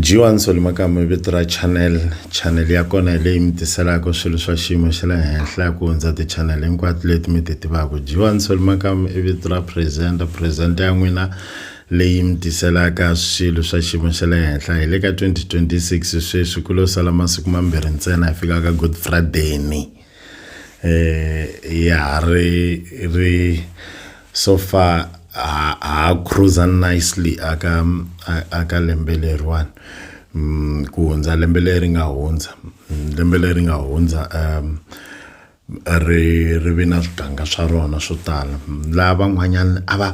jiwani solimakama vito ra channel channel ya kona hi leyi mi tiselaka swilo swa xiyimo xa le henhla ya ku hundza ti-channel hinkwato leti mi ti tivaka jiwani solimakama i vito ra presenter presenter ya n'wina leyi mi tiselaka swilo swa xiyimo xa le henhla hi le ka 2026 sweswi ku lo sala masiku mambirhi ntsena hi fika ka good friday ni eh ya re re so far ha ha cruiser nicely aka aka lembe leriwani mm, ku hundza lembe leri nga hundza mm, lembe leri nga hundza um ri ri vi na swiganga swa rona swo tala mm, laha van'wanyana a va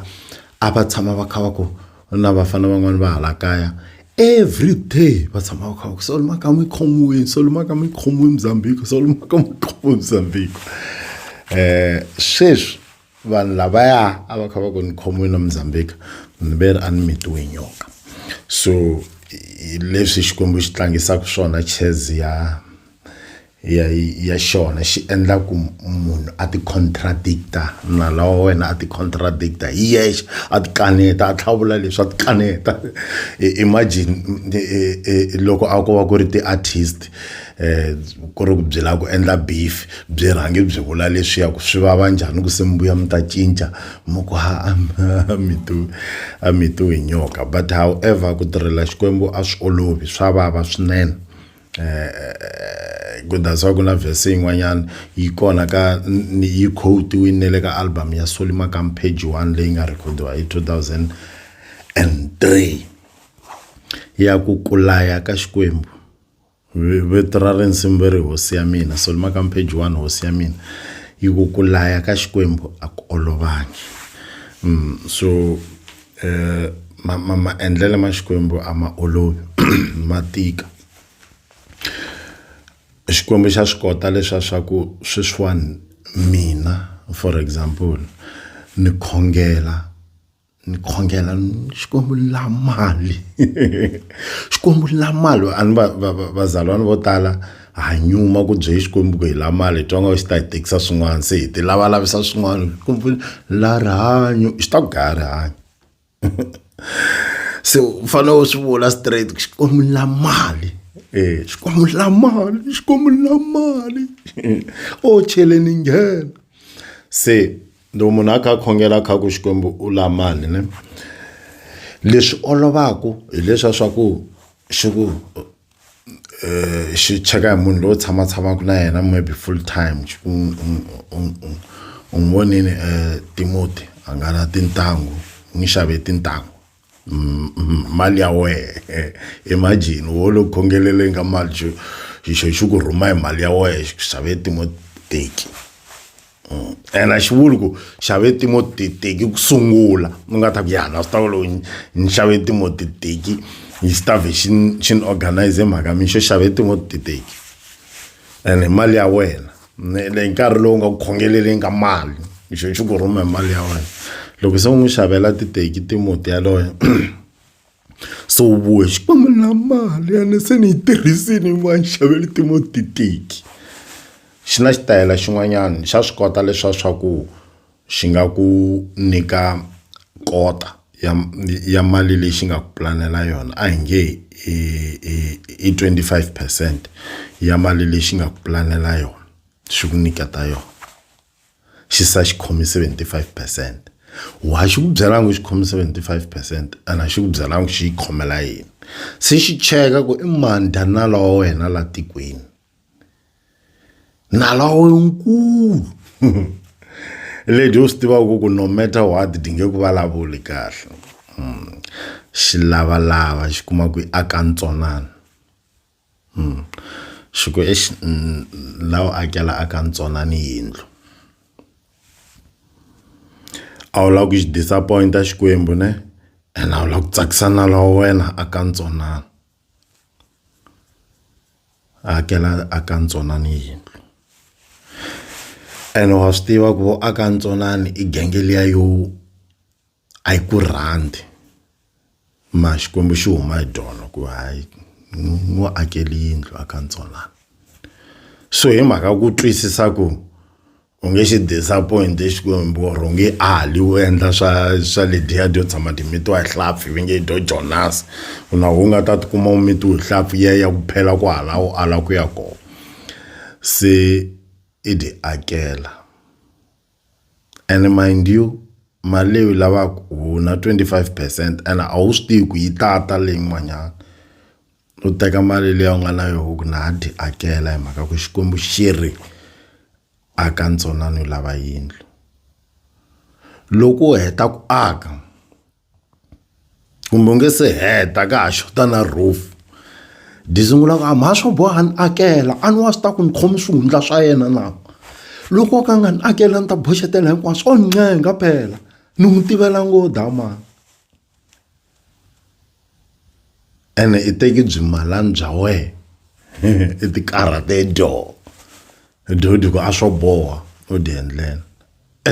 a va tshama va kha va ku na vafana van'wani va hala kaya every day va tshama va kha va ku solo makama yi khomiwini solo makama yi khomiwi muzambhiko solo makama yi khomiwi muzambhiko um eh, sweswi vanhu lavaya a va kha va ku ni khomiwini na muzambhika ni ve ri a ni mitiwe nyoka so leswi xikwembu xi tlangisaka swona chess ya ya ya xona xi endla ku munhu a ti contradicta nala wa wena a ti contradicta hi yexe a ti kaneta a tlhavula leswi a ti kaneta imagine loko a ko va ku ri ti-artist um ku ri ku byi lava ku endla beef byi rhange byi vula leswiya ku swi vava njhani ku se mi vuya mi ta cinca mi ku ha a a mi to a mi to hi nyoka but however ku tirhela Xikwembu a swi olovi swa vava swinene. eh ku that's why ku na verse yin'wanyana yi kona ka yi quote-wini ne le ka album ya Solly Makam page 1 leyi nga recordiwa hi 2003 ya ku kulaya ka xikwembu vito ra rinsimu ve ri hosi ya mina Solly Makam page 1 hosi ya mina yi ku kulaya ka xikwembu a ku olovangi mm, so eh ma ma maendlelo ma xikwembu a ma olovi ma tika xikwembu xa swi kota leswa swa ku sweswiwani mina for example ni khongela ni khongela xikwembu ni la mali xikwembu ni la mali a ni va va va vazalwana vo tala. ha nyuma ku bye xikwembu ku hi la mali hi twa nga xi ta hi tekisa swin'wana se hi ti lavalavisa swin'wana kumbe la rihanyo xi ta ku gaya rihanyo se u fanele u swi vula straight ku xikwembu la mali e xikwembu la mali xikwembu la mali o cheleni nghena se loko munhu a kha a khongela kha ku xikwembu u la mali ne leswi olovaka hileswa swa ku xi ku xi cheka hi munhu loyi u tshama tshamaka na yena maybe full time u n'wi vonile Timoti a nga na tintangu u n'wi xave tintangu mali ya wena imagine wo lo khongelela inga mali xi xi xi ku rhuma hi mali ya wena xi ku xavela Timoti teki. mm. and a xi vuli ku xave timo titeki ku sungula u nga ta ku yana swi ta ku lowu ni xave timo titeki yi swi ta vhe xi xi ni organize mhaka mi xo xave timo titeki and hi mali ya wena le hi nkarhi lowu nga ku khongeleleni ka mali xo xi ku rhuma hi mali ya wena loko se u n'wi xavela titeki timoti yaloye so vuya xikwembu na mali yane se ni yi tirhisini va ni xavele timotiteki xi na xitayela xin'wanyana xa swi kota leswa swa ku xi nga ku nyika kota ya ya mali leyi xi nga ku pulanela yona a hi nge i i i twenty five percent ya mali leyi xi nga ku pulanela yona xi ku nyiketa yona. xi sa xi khomi 75 percent wa xi ku byela ngo xi khomi 75 percent ana xi ku byela ngo xi yi khomela yini se xi cheka ku i mani danala wa wena la tikweni nala wa wena nkulu lady u swi tivaka ku ku no matter what dinge ku vulavuli kahle hmm. xi lavalava xi kuma ku i aka ntsonana Hmm. Swi ku exi la u akela aka ntsona ni yindlu. A wu lavi ku xi disappoint-a Xikwembu ne, ene a wu lavi ku tsakisa nala wa wena aka ntsanana. Akela aka ntsonani yindlu. Ene wa swi tiva ku aka ntsonani i genge liya yo a yi ku rhandi ma xikwembu xi huma hi dolo ku hayi n'wi akeli yindlu a ka ntsolana so hi mhaka ku twisisa ku u nge xi disappoint xikwembu or u nge ali u endla swa swa lediya dyo tshama timitiwa hi hlampfi va nge dyo jonas u na u nga ta tikuma u mitiwe hi hlampfi ya ya ku phela ku hala u ala ku ya kona se i ti akela. And mind you, mali leyi u yi lavaka u na 25 percent ene a wu swi tivi ku yi tata leyin'wanyana. U teka mali leyi u nga na yona u ku na ha dyi hakela hi mhaka ku Xikwembu xi ri, aka ntsanana u lava yindlu. Loko u heta ku aka. kumbe u nge se heta ka ha xota na roof ndzi sungula ku a mhani swo boha ni akela a ni wa swi ta ku ni khome swihundla swa yena na loko ka nga ni akela ni ta boxetela hinkwaswo o ncenga phela ni n'wi tivela ngo damani ene i teki byi malani bya wena i tikarhate dyo dyo dyi ku a swo boha u dyi endlela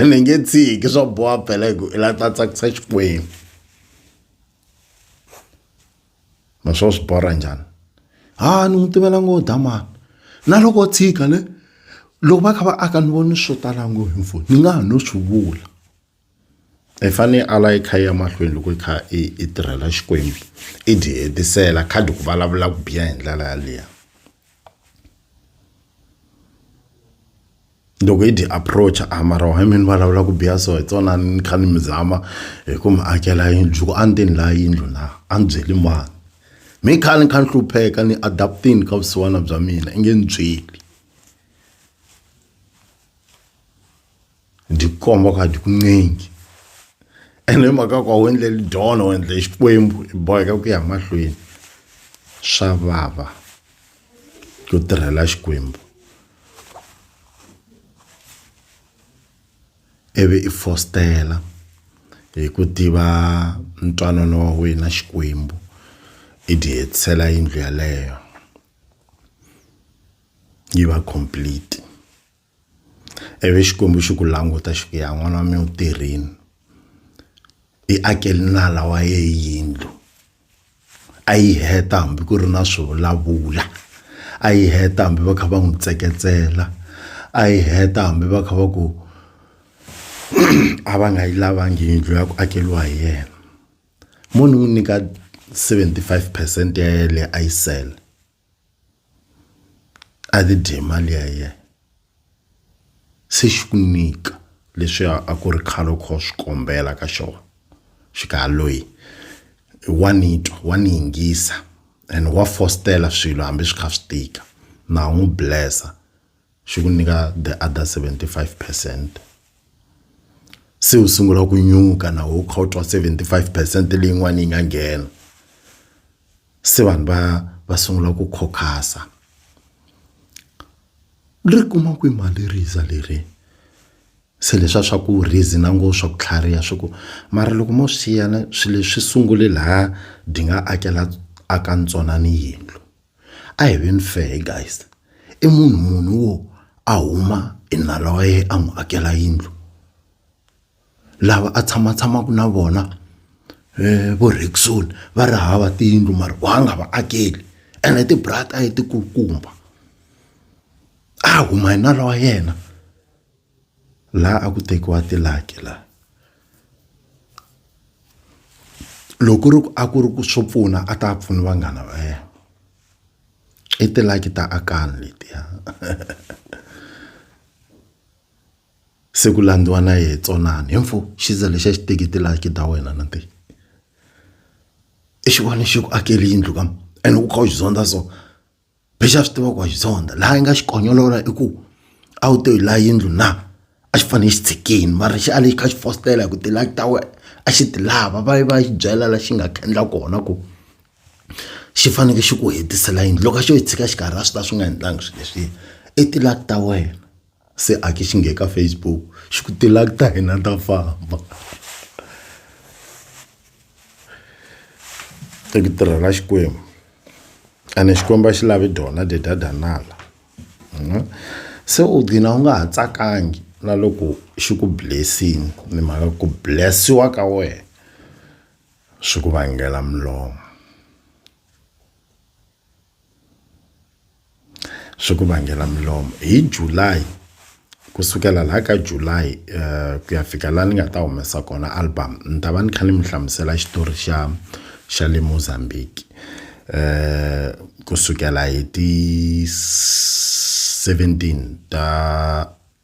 ni nge tshiki swa boha phela hi ku i la ta tsakisa xikwembu ma swo swi borha njhani ha ni n'wi tivela ngo dya mani na loko tshika le loko va kha va aka ni voni swo tala ngo hi mfoni ni nga ha no swi vula i e fanele a la yi kha yi ya mahlweni loko yi kha i i tirhela xikwembu i dyi hetisela khadi ku vulavula ku biha hi ndlela yaleyo loko hi dyi approach a ah, mara why mi ni vulavula ku biha so hi tsona ni kha ni mi zama hi ku mi akela yindlu ku a ni te ni laha yindlu na a ni byeli mani mi kha ni kha ni hlupheka ni adaptini ka vusiwana bya mina i nge ni byeli ndikomba uba ndikuncengi and emhaka kwa u endleli dona u endle xikwembu i boheka ku ya mahlweni swa vava ku tirhela xikwembu ivi i fostela hi ku tiva ntwanano wa wena xikwembu i ti hetisela yindlu yaleyo yi va complete ivi Xikwembu xi ku languta xi ku ya n'wana wa mina u tirhini i akele nala wa ye yindlu a yi heta hambi ku ri na swi vulavula a yi heta hambi va kha va n'wi tseketsela a yi heta hambi va kha va ku a va nga yi lavangi yindlu ya ku akeriwa hi yena mo ni n'wi nyika seventy five percent ya yena leyi a yi sele. a ti dye mali ya yena se xi ku nyika leswi a ku ri khale u kha u swi kombela ka xona xi ka loyi wa ni twa wa ni yingisa and wa fositela swilo hambi swi kha swi tika na ha n'wi bless-a. xi ku nyika the other 75 percent se u sungula ku nyuka na wo kha u twa 75 percent leyin'wana yi nga nghena se vanhu va va sungula ku khokhasa ri kuma ku mali riza leri se leswa swa ku rizi na ngo swa ku tlhariha swi ku mara loko mo swiyana swilo leswi sungule laha di nga akela aka ntswonani yindlu a hi veni fair guys i munhu munhu wo a huma hi nala wa yena a n'wi akela yindlu lava a tshama tshamaka na vona eh, vo Rexon va ri hava tiyindlu mara wa nga va akeli ene tibrata a yi tikulukumba a huma hi nala wa yena laha a ku tekiwa tilaki la loko ri ku a ku ri ku swo pfuna a ta pfuni vanghana va yena i tilaki ta akani letiya se ku landziwa na yehe tsonani hi mfo xiza lexi a xi teki tilaki ta wena na ti i xivona xi ku akeli yindlu ka ene u kha u xi zondza so lexi a swi tivaka ku wa xi zonda laha yi nga xi konyolola i ku a wu to hi laha yindlu na a xi fanele xi tshikini mara xi ale xi kha xi fositela hi ku ti-luck ta wena a xi ti lava va yi va xi byela la xi nga khandla kona ku xi faneke xi ku hetisela yindlu loko a xo yi tshika xikarhi a swi ta swi nga endlangi swilo leswiya i ti-luck ta wena. se a ke xi nghe ka Facebook xi ku tilak ta hina ta famba i ku tirha na Xikwembu ene Xikwembu a xi lavi dona dedadanala mhm. se u gcina u nga ha tsakangi na loko xi ku blessing ni mhaka ku blessiwa ka wena swi ku vangela milomo swi ku vangela milomo hi July kusukela la ka July uh, ku ya fika la ni nga ta humesa kona album ni ta va ni kha ni mi hlamusela xitori xa xa le Mozambique eh kusukela hi ti 17 ta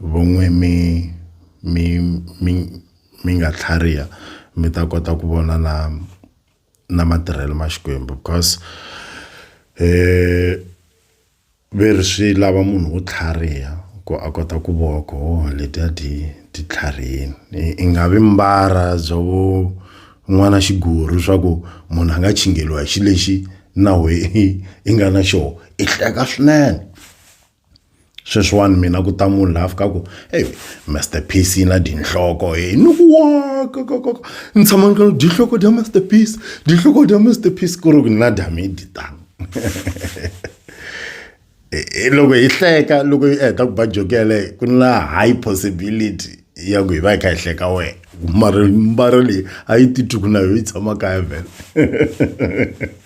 Vun'we mi mi mi mi nga tlhariha mi ta kota ku vona na na matirhelo ma Xikwembu because ve ri swi lava munhu wo tlhariha ku a kota ku vo ku ho letiya ti ti tlharihini i nga vi mbara bya vo n'wana xiguru swa ku munhu a nga hi xi lexi na wehe i nga na xoho i hleka swinene. sweswiwani mina ku ta munhu laha fikaku ey master piece yi na dinhloko e ni ku wakakakaka ni tshama ni ka dinhloko dya master piece dinhloko dya master piece ku ri ku na damidi tano e, e, loko hi hleka loko yi heta ku ba joki yaleyo ku na high possibility ya ku hi va hi kha hi hleka wena mara mbara leyi a yi titwi ku na yo yi tshama kaya vhele